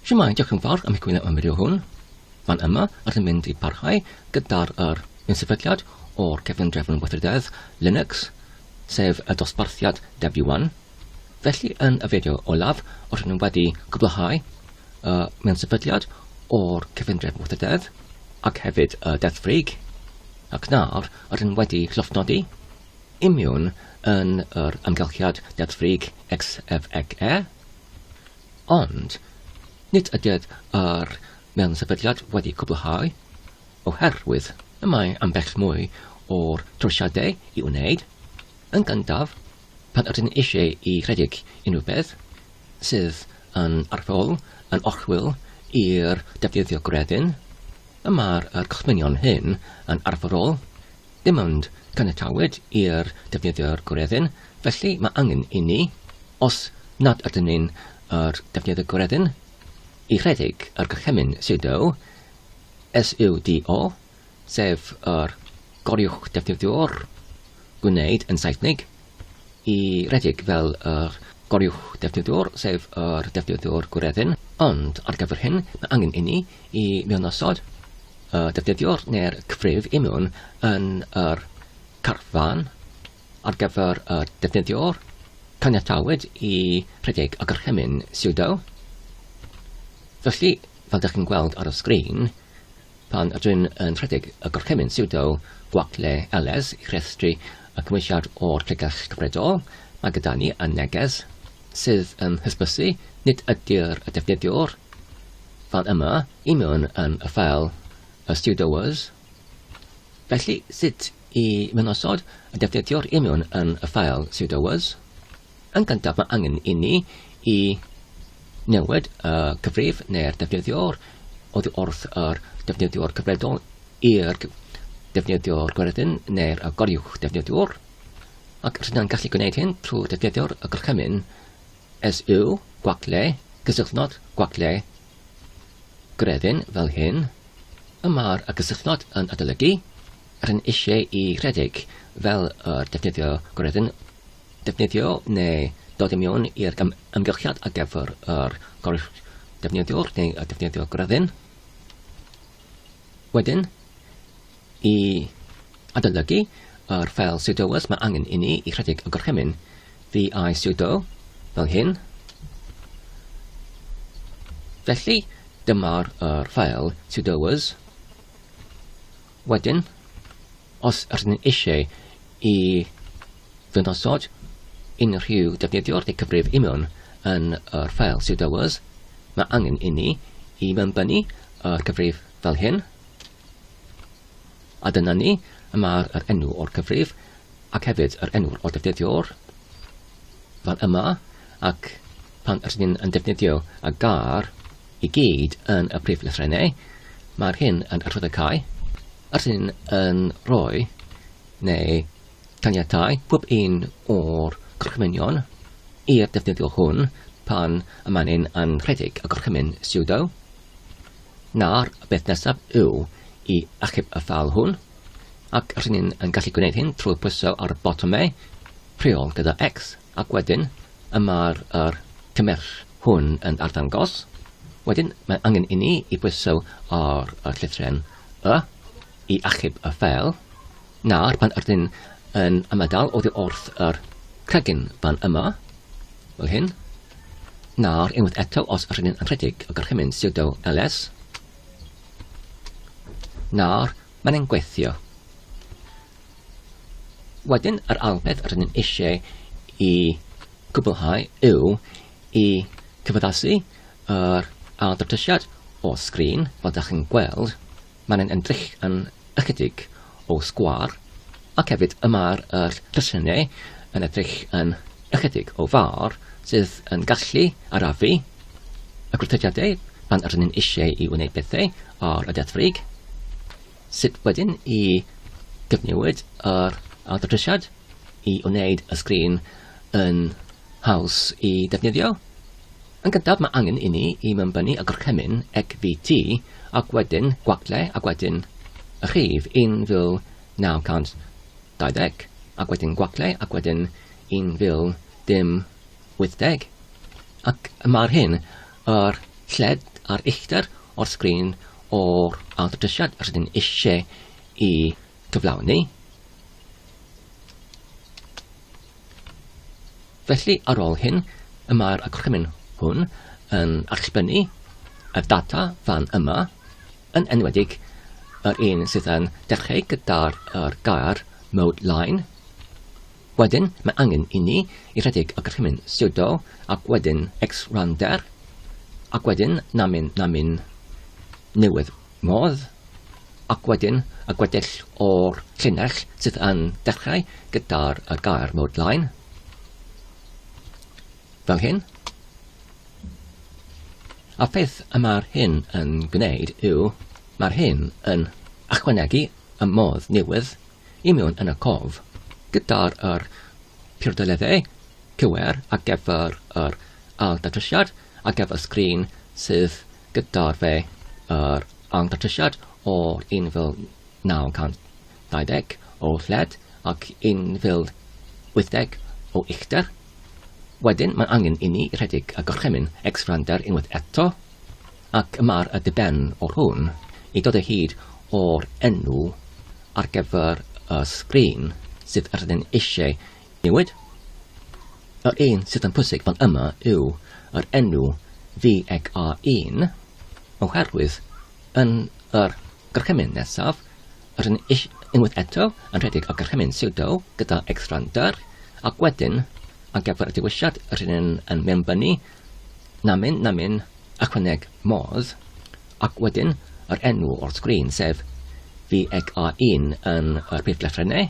Shwmae, diolch yn fawr am eich gwylio am fideo hwn. Fan yma, rydym mynd i barhau gyda'r yr unsefydliad o'r cefn drefn weithrededd Linux, sef y dosbarthiad Debian. Felly, yn y fideo olaf, rydym ni wedi cwblhau y unsefydliad o'r cefn drefn weithrededd ac hefyd y deddfrig, ac nawr rydym wedi llofnodi Imiwn yn yr amgylchiad deddfwrig XFEE, ond nid ydyf yr mewn-sefydliad wedi cwblhau, oherwydd y mae ambell mwy o'r trosiadau i wneud, yn gyntaf, pan ydyn eisiau i redeg unrhyw beth sydd yn arferol yn orchwyl i'r defnyddiwr gwredyn, y mae'r costmynion hyn yn arferol Dim ond caniatawyd i'r defnyddiwr goreddu'n, felly mae angen inni, os nad ydyn ni'n yr defnyddiwr goreddu'n, i redeg yr gorchymyn sudo, S-U-D-O, sef yr goriwch defnyddiwr gwneud yn Saesneg, i redeg fel yr goruwch defnyddiwr, sef yr defnyddiwr gwreddyn, ond ar gyfer hyn mae angen inni i mewnosod y defnyddiwr neu'r cyfrif i mewn yn yr carfan ar gyfer y defnyddiwr caniatawyd i rhedeg y gorchymyn sudo. Felly, fel dych chi'n gweld ar y sgrin, Pan ydw i'n rhedeg y gorchymyn siwdo gwagle LS i restru y cymwysiad o'r pregeth cyfredol, mae gyda ni y neges sydd yn hysbysu nid ydy'r defnyddiwr fan yma i mewn yn y ffeil y siwdoers. Felly, sut i mewnosod y defnyddiwr i mewn yn y ffeil siwdoers? Yn gyntaf mae angen inni i newid y cyfrif neu'r defnyddiwr oddi wrth yr defnyddiwr cyfredol i'r defnyddiwr gweryddyn neu'r goruwch defnyddiwr ac rydyn gallu gwneud hyn trwy defnyddio'r gorchymyn SU gwacle cysylltnod gwacle gweryddyn fel hyn y mae'r cysylltnod yn adolygu rydyn eisiau i rhedeg fel yr defnyddio gweryddyn defnyddio neu dod i mewn i'r amgylchiad ar gyfer yr defnyddiwr neu y defnyddiwr gryfyn. Wedyn, i adolygu yr ffeil sudoers mae angen i ni i rhedeg y gorchymyn vi sudo fel hyn. Felly, dyma'r ffeil sudoers Wedyn, os ydyn ni eisiau i ddangosod unrhyw defnyddiwr neu cyfrif imiwn yn yr ffael pseudoers, mae angen inni i mewnbynnu yr cyfrif fel hyn, a dyna ni, y mae'r yr enw o'r cyfrif ac hefyd yr enw'r o'r defnyddiwr fan yma ac pan ydyn ni'n yn defnyddio a gar i gyd yn y prif lythrennau mae'r hyn yn adrodd y cae ydyn ni'n yn rhoi neu caniatau pob un o'r gorchymynion i'r defnyddiwr hwn pan y mae'n yn rhedeg y gorchymyn sudo Nawr, y peth nesaf yw i achub y ffeil hwn, ac rydyn ni'n yn gallu gwneud hyn trwy pwyso ar y botwm E, rheol gyda X, ac wedyn y mae'r er cymersh hwn yn arddangos. Wedyn, mae angen i ni i pwyso ar y llythren Y i achub y ffeil. Nawr, pan ydyn yn ymadael oddi wrth yr cregyn fan yma, fel hyn, nawr unwaith eto os ydyn yn rhedeg y gorchymyn sudo ls, nawr mae'n ein gweithio. Wedyn, yr ail beth ydyn ni'n eisiau i gwblhau yw i cyfaddasu yr ail datrysiad o sgrin, fel da chi'n gweld, Mae'n ymdrech yn ychydig o sgwâr ac hefyd y mae'r yr rhesynnau yn edrych yn ychydig o fawr sydd yn gallu arafu y gwrthodiadau pan yr ni'n eisiau i wneud pethau ar y deddfwrig. Sut wedyn i gyfnewid yr awdurdisiad i wneud y sgrin yn haws i ddefnyddio? Yn gyntaf mae angen i ni i mewnbynnu y gorchymyn ECVT ac wedyn gwaglau ac wedyn y rhif 1920 ac wedyn gwaglau ac wedyn 1080 ac mae'r hyn yr lled a'r uchder o'r sgrin o'r awdurdisiad yr ydyn eisiau i gyflawni. Felly, ar ôl hyn, y mae'r acronym hwn yn allbynnu y data fan yma, yn enwedig yr un sydd yn dechrau gyda'r er gair mode line. Wedyn, mae angen i ni i rhedeg y gorchymyn sudo ac wedyn xrandr, ac wedyn namin namin newydd modd, ac wedyn y gweddill o'r llinell sydd yn dechrau gyda'r gair mode line, fel hyn. A peth y mae'r hyn yn gwneud yw, mae'r hyn yn ychwanegu y modd newydd i mewn yn y cof, gyda'r yr priodoliaethau cywir ar gyfer yr ail datrysiad, ar gyfer sgrin sydd gyda fe yr arngymhelliad o 1920 o led ac 1080 o uchder. Wedyn mae'n angen i ni rhedeg y gorchymyn X-Frander unwaith eto ac ymar y diben o'r hwn i dod o hyd o'r enw ar gyfer y sgrin sydd rydyn eisiau Newid? Yr un sydd yn pwysig fan yma yw yr enw VEGA1 oherwydd yn yr gorchymyn nesaf, rydyn ni unwaith eto yn rhedeg y gorchymyn pseudo gyda X-Randr ac wedyn ar gyfer y dewisiad rydyn yn mewnbynnu namin namin ychwaneg modd ac wedyn yr enw o'r sgrin sef VEGA1 yn yr prif lythrennau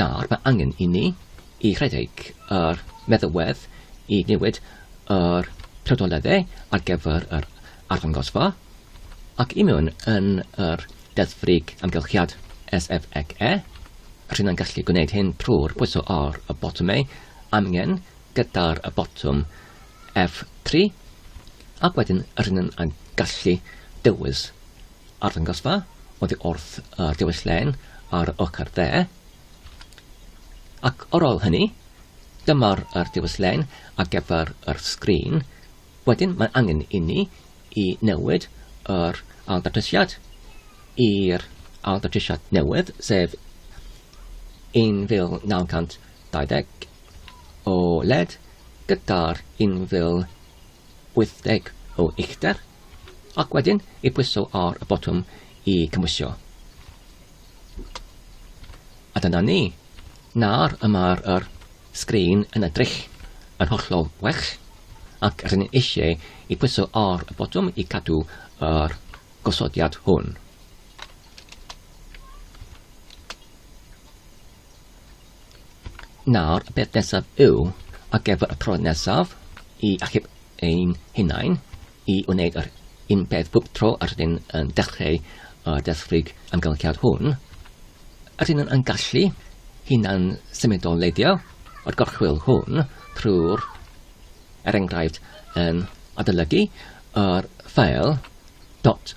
Nawr mae angen i ni i redeg yr meddalwedd i newid yr prawdoledde ar gyfer yr arddangosfa ac i mewn yn yr deddfwrig amgylchiad SFXE. Rhyn yn gallu gwneud hyn trwy'r pwyso ar y botymau amgen gyda'r y botwm F3 ac wedyn rhyn yn gallu dewis Arddangosfa oddi wrth y dywyllên ar ochr dde. Ac ar ôl hynny, dyma'r yr dywyllên ar gyfer yr sgrin. Wedyn mae'n angen inni i newid yr ailddatrysiad i'r ailddatrysiad newydd, sef 1920 o led gyda'r 1920 80 o uchder, ac wedyn i bwyso ar y botwm i gymwysio. A dyna ni. Nawr y mae'r yr sgrin yn edrych yn hollol well, ac rydyn ni eisiau i pwyso ar y botwm i cadw yr gosodiad hwn. Nawr, y peth nesaf yw, ar gyfer y tro nesaf, i achub ein hunain, i wneud yr un peth bob tro yr ydyn yn dechreu y desfrig amgylchiad hwn, ydyn yn gallu hunan symudo leidio o'r gorchwyl hwn trwy'r, er enghraifft, yn adolygu yr ffeil dot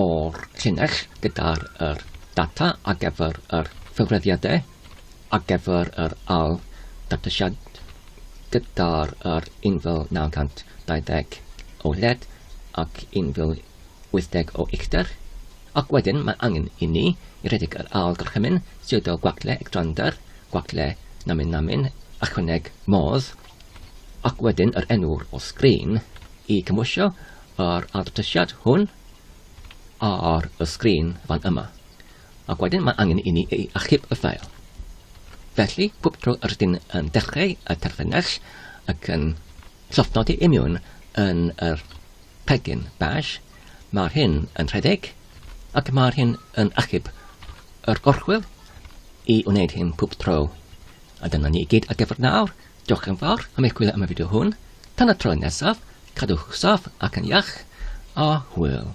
o'r llinell gyda'r yr data ar gyfer yr cyfrifiadau ar gyfer yr ail ddatrysiad gyda'r yr 1920 o led ac 1080 o uchder ac wedyn mae angen i ni i redeg yr ail gorchymyn sydd o gwacle ectrander, gwacle namin namin, ychwaneg modd ac wedyn yr enw'r o sgrin i cymwysio yr adfytysiad hwn ar y sgrin fan yma, ac wedyn mae angen i ni ei achub y ffeil. Felly, pob tro yr ydyn yn dechrau y terfynell ac yn llofnodi imiwn yn yr pegyn bash, mae'r hyn yn rhedeg ac mae'r hyn yn achub yr orchwyl i wneud hyn pob tro. A dyna ni i gyd ar gyfer nawr. Diolch yn fawr am eich gwylio am y fideo hwn. Tan y tro nesaf, cadwch saff ac yn iach, a hwyl.